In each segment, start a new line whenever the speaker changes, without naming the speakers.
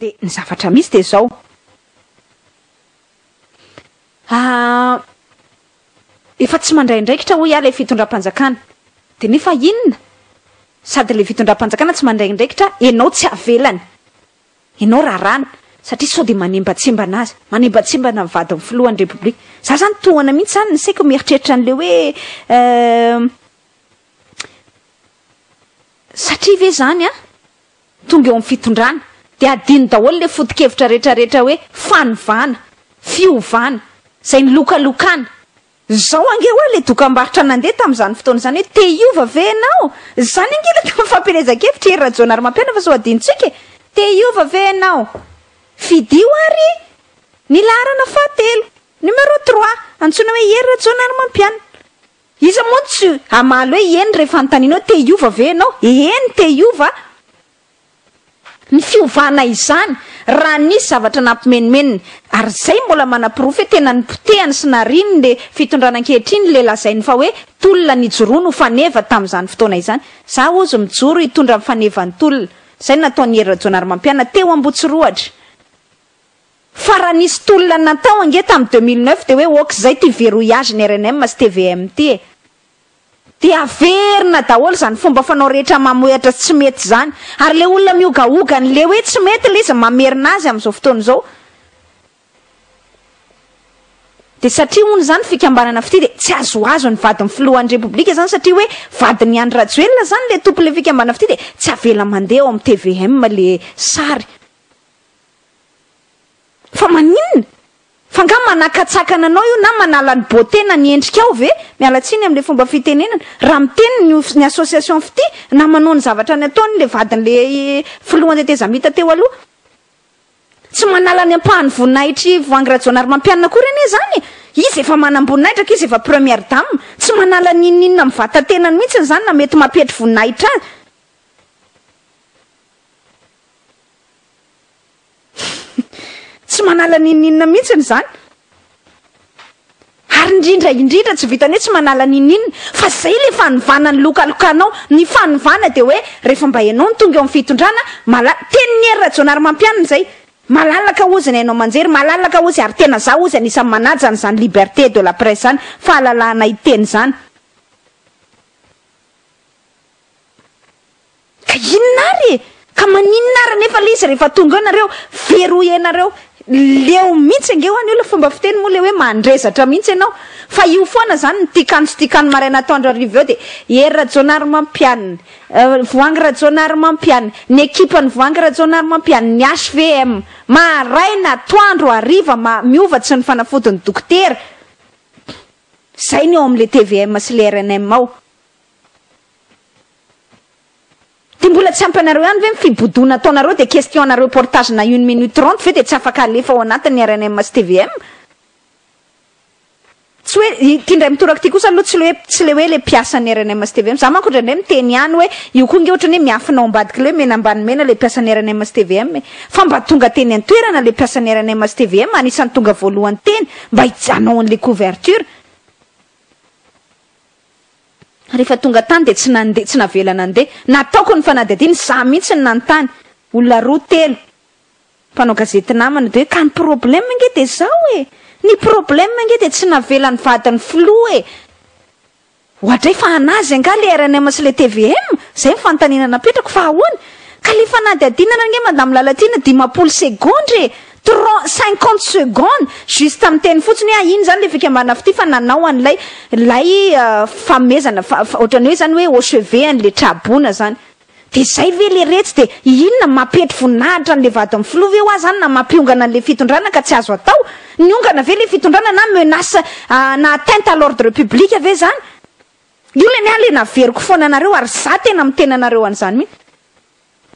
Dia ny zavatra misy dia izao. Ah, efa tsy mandray andraikitra hoy aho ilay fitondram-panjakana. Dia nefa inona? Sady ilay fitondram-panjakana tsy mandray andraikitra, ianao tsy avelany. Ianao raràny satria sao dia manembatsembana azy, manembatsembana ny vadin'ny filohan'ny Repoblika. Izaho izany tohana mihitsy izany ny saiko mieritreritra an'ilay hoe eh, satria ve izany an, tonga eo amin'ny fitondrana dia adino daholo ilay foto-kevitra rehetrarehetra hoe fanovàna, fiovàna, izay nilokalokàna. Izao ange ho'a ilay dokambarotra nandeha tamin'izany fotoana izany hoe te hiova ve ianao? Izany ange ilay tamin'ny fampielezan-kevitr'i Hery Rajaonarimampianina fa sao hadinontsika e! Te hiova ve ianao? Fidio ary ny laharana fahatelo, numéro trois, antsoina hoe Hery Rajaonarimampianina. Iza moa no tsy hamaly hoe eny rehefa anontaniana hoe te hiova ve ianao? Eny te hiova aho. ny fiovana izany raha nisy zavatra nampimenomenony ary izay mbola manaporofo hoe tena nipotehany sy nariany ny fitondrana ankehitriny ilay lazainy fa hoe tolona nijoroany ho faneva tamin'izany fotoana izany za ozy mijoro hitondra ny fanevan'ny tolona izay no nataon'i Hery Rajaonarimampianina teo Ambotsirohatra fa raha nisy tolona natao ange tamin'ny deux mille neuf dia hoe ok izay ity verrouillage ny rnm sy tvm ity e. Dia averina daholo izany fomba fanao rehetra mamohehatra sy tsy mety izany. Ary ilay olona mihogahoga an'ilay hoe tsy mety ilay izy no mamerina azy amin'izao fotoana izao. Dia satria hono izany fikambanana fitia dia tsy azoazo ny vadin'ny filohan'ny Repoblika izany satria hoe vadin'i Andry Rajoelina izany ilay tompon'ilay fikambanana fitia dia tsy avela mandeha ao amin'ny tvm ilay sary. Fa maninona? F'angaha manakatsakana anao io na manala ny beauté na ny endrikao ve? Miala tsiny amin'ilay fomba fitenenana. Raha miteny ny of ny association Fitia na manao ny zavatra ny ataony ilay vadin'ilay filohan'ny tetezamita teo aloha. Tsy manala ny ampahan'ny voninahitr'i Voahangy Rajaonarimampianina akory anie izany e! Izy efa manam-boninahitra ka izy efa première dame. Tsy manala ny inon'inona amin'ny vatan-tenany mihitsy izany na mety mampihety voninahitra azy. Tsy manala n'inon'inona mihitsy ny zany. Ary indrindra indrindra tsy vitan'ny hoe tsy manala n'inon'inona fa zay le fanovana nilokalokanao. Ny fanovana dia hoe rehefa mba ianao no tonga eo amin'ny fitondrana, mala- tenin'i Hery Rajaonarimampianina izay, malalaka hozy ny haino aman-jery, malalaka hozy ary tena za hozy anisan'ny manaja an'izany liberté de la presse izany, fahalalahana hiteny izany. Fa inona ary e! Ka maninona ary anefa le izy rehefa tonga eo nareo, very ho enareo. Leo mihitsy ange ho an' io le fomba fiteny moa le hoe mandrezatra mihitsy ianao. Fa io foana zany ny tikan tsy tikan maraina atoandro hariva eo dia Hery Rajaonarimampianina, Voahangy Rajaonarimampianina, ny ekipan'i Voahangy Rajaonarimampianina, ny HVM. Maraina, atoandro, hariva, ma, miova tsy ny fanafodin'ny dokotera. Zay ny ao am le tvm sy le rnm ao. Dia mbola tsy ampy anareo ihany ve ny fibodoana ataonareo dia question na reportage na une minute trente ve dia tsy afaka alefa ao anatin ny rnm sy tvm? Tsy hoe, ity indray mitoraka ity kosa aloha tsy le hoe tsy le hoe le mpiasan ny rnm sy tvm, za manko indraindray miteny ihany hoe io koa nge ohatran ny hoe miafina ao ambadika le hoe mena ambany mena le mpiasan ny rnm sy tvm e! Fa mba tonga teny an toerana le mpiasan ny rnm sy tvm anisan ny tonga voalohany teny mba hijanao an le couverture, Rehefa tonga tany dia tsy nandeha, tsy navela nandeha. Nataoko ny fanadihadiana, izaho mihitsy no nanontany. Olona roa, telo, mpanao gazety namana, dia hoe, ka ny problème ange dia izao e! Ny problème ange dia tsy navelan'ny vadin'ny filoha e! Oadray fa an'azy angaha ilay rnm sy ilay tvm? Izay ny fanontaniana napetrako, fa ahoana? Ka ilay fanadihadiana ange Madame Lalatiana dimampolo segondra e! Trente, cinquante secondes juste miteny fotsiny hoe ino zany le fikambanana fitia fa nanao an'ilay lay famezana fa ohatrany hoe zany hoe au chevet an'le traboina zany. De zay ve le retsy de inona mampetry voninahitra an'le vadin'ny filoha ve hoa zany na mampiongana an'le fitondrana ka tsy azo atao? Niongana ve le fitondrana na menace na atteinte à l'ordre public ve zany? Io le ny ahy le naveriko foana anareo ary za tena miteny anareo an'zany mihitsy.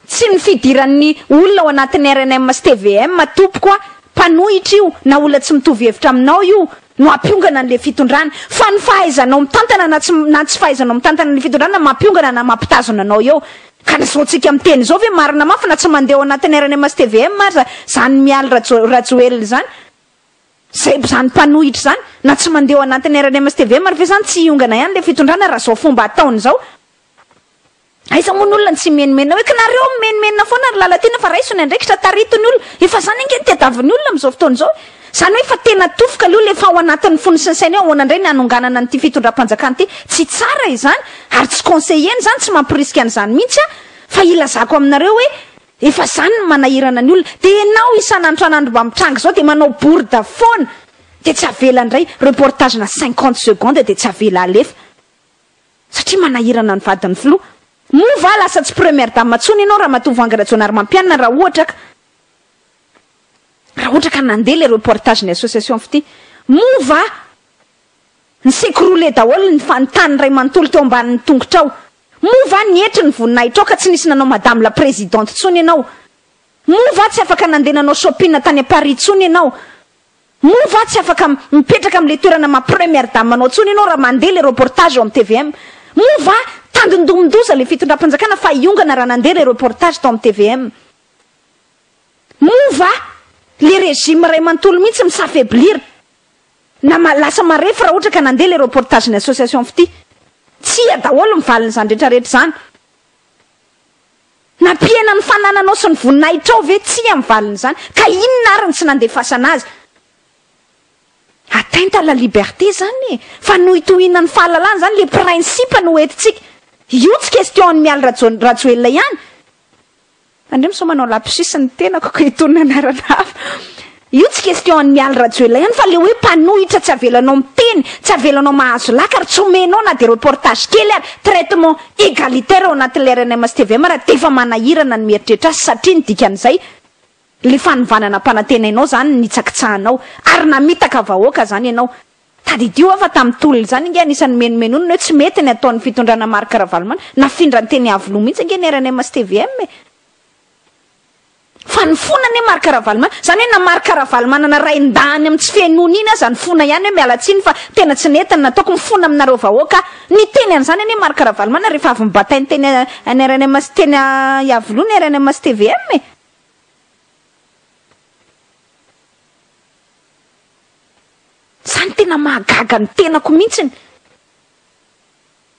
Tsy ny fidiran'ny olona ao anatin'ny rnm sy tvm tompoko a! Mpanohitra io na olona tsy mitovy hevitra aminao io no hampiongana an'ilay fitondrana fa ny fahaizanao mitantana na tsy na tsy fahaizanao mitantana ny fitondrana mampiongana na mampitazona anao eo ka ny zaontsika miteny izao ve marina mafy na tsy mandeha ao anatin'ny rnm sy tvm aza zany Mialy Rajo Rajoelina izany zay zany mpanohitra izany na tsy mandeha ao anatin'ny rnm sy tvm ary ve zany tsy hiongana ihany ilay fitondrana raha zao fomba ataony izao Aiza moa ny olona no tsy mimenomenona hoe kinareo mimenomenona foana ry Lalatiana fa raiso ny andraikitra tarito ny olona efa zany ange no tadiavin'ny olona amin'izao fotoana izao e! Zany hoe efa tena tofoka le olona efa ao anatin'ny fony sy ny sainy hoe ahoana indray ny hanonganana an'ity fitondram-panjakana ity? Tsy tsara izany ary tsy conseillena izany tsy mamporisika an'izany mihitsy aho fa ilazako aminareo hoe efa zany no manahirana ny olona dia enao isan'andro isan'andro mba mitranga izao dia manao bourde foana dia tsy avela indray reportage na cinquante secondes dia tsy avela alefa Satria manahirana ny vadin'ny filoha. Moa va lasa tsy première dame intsony ianao ramatoa Voahangy Rajaonarimampianina raha ohatra ka raha ohatra ka nandeha ilay reportage ny association fitia. Moa va ny s'ecrouler daholo ny fa ny tany iray manontolo teo ambanin'ny tongotrao. Moa va nietry ny voninahitrao ka tsy nisy nanao madame la présidente intsony ianao. Moa va tsy afaka nandeha nanao shopping tany à Paris intsony ianao. Moa va tsy afaka mipetraka amin'ilay toerana maha première dame anao intsony ianao raha mandeha ilay reportage ao amin'ny tvm? Moa va tandindomin-doza ilay fitondram-panjakana fa hiongana raha nandeha ilay reportage tao amin'ny tvm? Moa va ilay régime iray manontolo mihitsy mi s'affaiblir na lasa marefo raha ohatra ka nandeha ilay reportage-n'ny association fitia? Tsia daholo ny valin'izany rehetrarehetra izany. Nampihena ny fanananao sy ny voninahitrao ve? Tsia amin'ny valin'izany. Ka inona ary no tsy nandefasana azy? Atteinte à la liberté izany e! Fanohitohiana ny fahalalana izany, ilay principe no hoentintsika. Io tsy question an'i Mialy Rajo Rajoelina ihany. Andrio misaoa manao lapsus ny tenako ko itony anarana hafa. Io tsy question an'i Mialy Rajoelina ihany fa le hoe mpanohitra tsy avelanao miteny, tsy avelanao mahazo laka ary tsy omenao na dia reportage kely ary traitement egalitaire ao anatin'ilay rnms tvm raha dia efa manahirana ny mieritreritra azy satria ny dikan'izay le fanovana nampanantenainao zany nitsakitsahanao ary namitaka vahoaka zany ianao. Tadidio aho fa tamin'ny tolona izany ange anisan'ny menomenonina hoe tsy mety ny ataon'ny fitondrana Marc Ravalomanana, nafindra ny teny Iavoloha mihitsy ange ny rnms tvm e! Fa ny fona anie Marc Ravalomanana, izany hoe na Marc Ravalomanana rain-dahiny amin'ny tsy fihenoana iny aza ny fona ihany hoe miala tsiny fa tena tsy nety ny nataoko, mifona aminareo vahoaka aho. Niteny an'izany anie Marc Ravalomanana rehefa avy nibatainy teny any rnm sy teny Iavoloha ny rnm sy tvm e. Izany tena mahagaga ny tenako mihitsiny.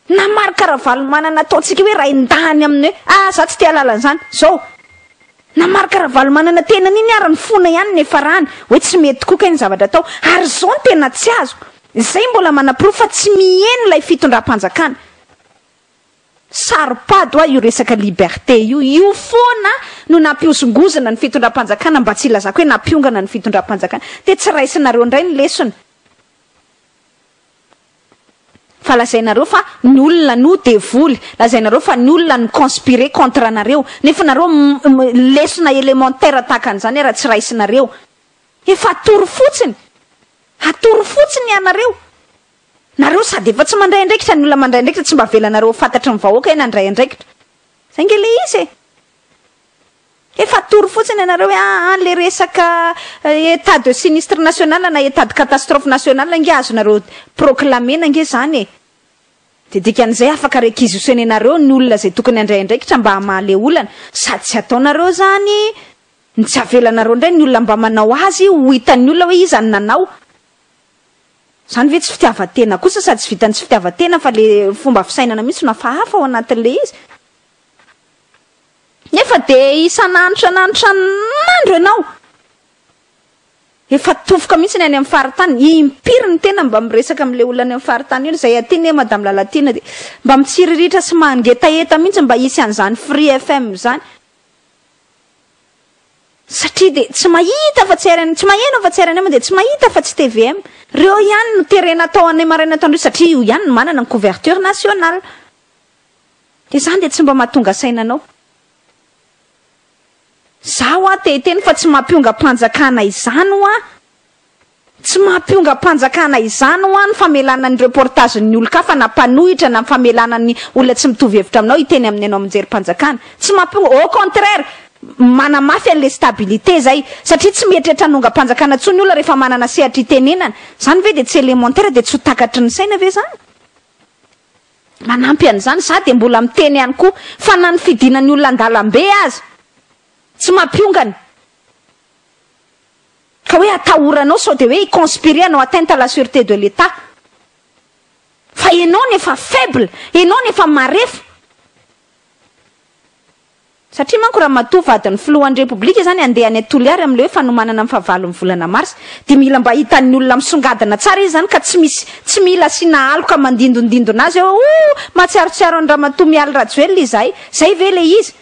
Na Marc Ravalomanana ataontsika hoe rain-dahiny amin'ny hoe ah za tsy te halala an'izany, zao, na Marc Ravalomanana tenany iny ary ny fona ihany no efa rany hoe tsy mety tokoa kay ny zavatra atao, ary izao no tena tsy azoko, izay mbola manaporofo fa tsy miheno ilay fitondram-panjakana. Saro-pady hoa io resaka liberté io, io foana no nampihozongozona ny fitondram-panjakana mba tsy hilazako hoe nampiongana ny fitondram-panjakana, dia tsy raisinareo indray ny lesona. Fa lazainareo fa ny olona no devoly, lazainareo fa ny olona no conspirer contre anareo, nefa nareo lesona élémentaire tahaka an'izany ara tsy raisinareo. Efa atoro fotsiny, atoro fotsiny ianareo. Nareo sady efa tsy mandray andraikitra, ny olona mandray andraikitra tsy mba avelanareo ho fantatry ny vahoaka hoe nandray andraikitra. Izay nge le izy e. Efa atoro fotsiny ianareo hoe ah ah le resaka etat de sinistre national na etat de catastrophe national ange azonareo proclamer-na ange zany e! de dikan'izay afaka requisitionner-nareo ny olona izay tokony handray andraikitra mba hamaha le olana sady tsy ataonareo zany ny tsy avelanareo indray ny olona mba manao azy ho hitan'ny olona hoe iza no nanao zany ve tsy fitiavan-tena kosa sady tsy vitan'ny tsy fitiavan-tena fa le fomba fisainana mihitsy no hafahafa ao anatin'le izy Nefa dia isan'andro isan'andro isan'andro ianao efa tofoka mihitsy ny any amin'ny faritany, impiry ny tena mba miresaka amin'ilay olona any amin'ny faritany eo, izay aty anie Madame Lalatiana dia mba mitsiriritra sy mangetaheta mihitsy mba hisy an'izany Free FM izany, satria dia tsy mahita afa tsy RN, tsy maheno afa tsy rnm dia tsy mahita afa tsy tvm, ireo ihany no terena atao any maraina atoandro satria io ihany no manana ny couverture nationale. Dia izany dia tsy mba mahatonga saina anao. Izaho hoa te hiteny fa tsy maha-mpiongam-panjakana izany hoa, tsy maha-mpiongam-panjakana izany hoa ny famelana ny reportage-ny ny olon-kafa na mpanohitra na ny famelana ny olona tsy mitovy hevitra aminao hiteny amin'ny anao amin-jerim-panjakana. Tsy maha-mpiongam-, au contraire, manamafy an'ilay stabilité izay. Satria tsy mieritreritra hanongam-panjakana intsony ny olona rehefa manana sehatra hitenenana. Izany ve dia tsy élémentaire, dia tsy ho takatry ny saina ve izany? Manampy an'izany, za dia mbola miteny ihany koa, fa na ny fidina ny olona an-dalambe aza, tsy mampiongana, ka hoe atahoranao sao dia hoe hi conspirer hanao atteinte à la surete de l'Etat, fa enao no efa faible, enao no efa marefo. Satria manko ramatoa vadin'ny filohan'ny Repoblika izany handeha any Toliary amin'ilay hoe fanomanana ny fahavalon'ny volana marsa dia mila mba hitan'ny olona misongadina tsara izy izany ka tsy misy tsy mila asiana aloka mandindondindona azy hoe oh mahatsiarotsiaro an'i ramatoa Mialy Rajoelina izahay izay ve ilay izy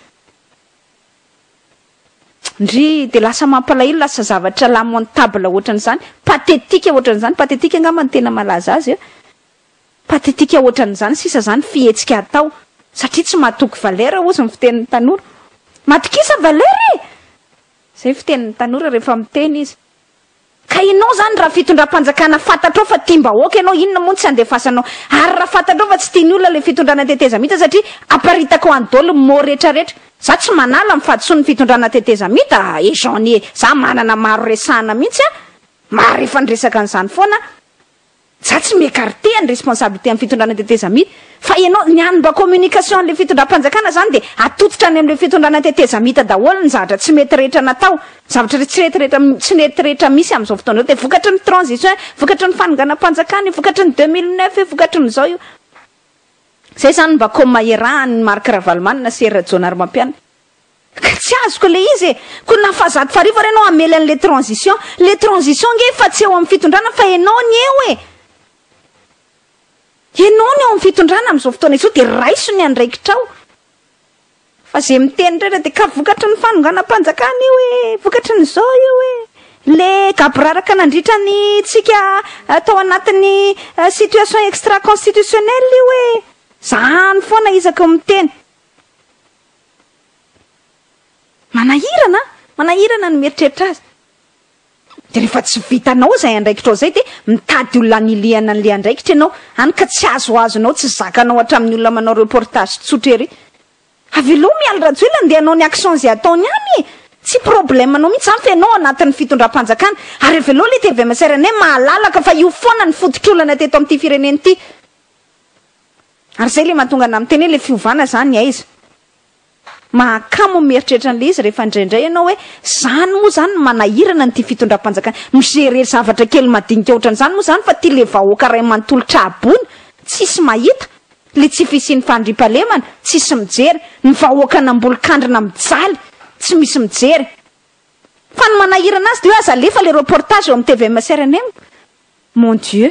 ndry dia lasa mampalahelo lasa zavatra lamentable ohatran'izany pathétique ohatran'izany pathétique angamba no tena malaza azy eh Pathetique ohatran'izany sisa zany fihetsika atao satria tsy matoky valeur hozy ny fitenin'ny tanora. Matokisa valeur e! Zay fitenin'ny tanora rehefa miteny izy. Ka enao zany raha fitondram-panjakana fantatrao fa tiam-bahoaka enao inona moa no tsy andefasanao? Ary raha fantatrao fa tsy tian'ny olona ilay fitondrana tetezamita satria aparitakao any dol ny mots rehetra rehetra. Za tsy manala ny fahadisoan ny fitondrana tetezamita e Jean nie za manana maro resahana mihitsy a! Maharefan-dresaka an'izany foana a! Za tsy mi-ecarte ny responsabilité am fitondrana tetezamita fa ianao ny any mba communication anle fitondram-panjakana zany dia atotitra any amle fitondrana tetezamita daholo ny zavatra tsy mety rehetra natao zavatra re tsy rety rehetra tsy nety rehetra misy amzao fotoana zao dia vokatry ny transition io vokatry ny fanonganam-panjakana io vokatry ny deux mille neuf io vokatry ny zao io zay zany mba com iarahan ny Marc Ravalomanana sy Hery Rajaonarimampianina. Ka tsy azoko le izy e! Ko na fa zato farivo ary enao hamely anle transition? Le transition nge efa tsy eo amin'ny fitondrana fa enao ny eo e! Enao no eo amin'ny fitondrana amin'izao fotoana izao dia raiso ny andraikitrao! Fa ze miteny rehetra dia ka vokatry ny fanonganam-panjakana io e! Vokatry ny zao io e! Le gaboraraka nandritra ny tsika tao anatin'ny situation extra constitutionnelle io e! Zany foana isaky ny miteny! Manahirana an! Manahirana ny mieritreritra azy. Dia rehefa tsy vitanao izay andraikitrao izay dia mitady olona hanilihana an'ilay andraikitra ianao, hany ka tsy azoazonao, tsy zakanao hatramin'ny olona manao reportage tsotra ery. Avelao Mialy Rajoelina handeha hanao ny action izay ataony any e! Tsy problème anao mihitsy izany fa ianao ao anatin'ny fitondram-panjakana. Ary avelao ilay tvm-srn mahalalaka fa io foana ny fototr'olana teto amin'ity firenena ity. Ary zay le mahatonga anah miteny hoe le fiovana zany aiza? Mahakamo ny mieritreritra an'le izy rehefa indraindray ianao hoe zany moa zany no manahirana an'ity fitondram-panjakana, mi-gerer zavatra kely madinika ohatran'izany moa zany fa ty le vahoaka ray manontolo tra-boina tsisy mahita le tsy fisian'ny fandriam-pahalemana, tsisy mijery, ny vahoaka nambolon-kandrina mijaly tsy misy mijery. Fa ny manahirana azy de hoe aza alefa le reportage eo amin'ny tvm sy rnm. Mon Dieu.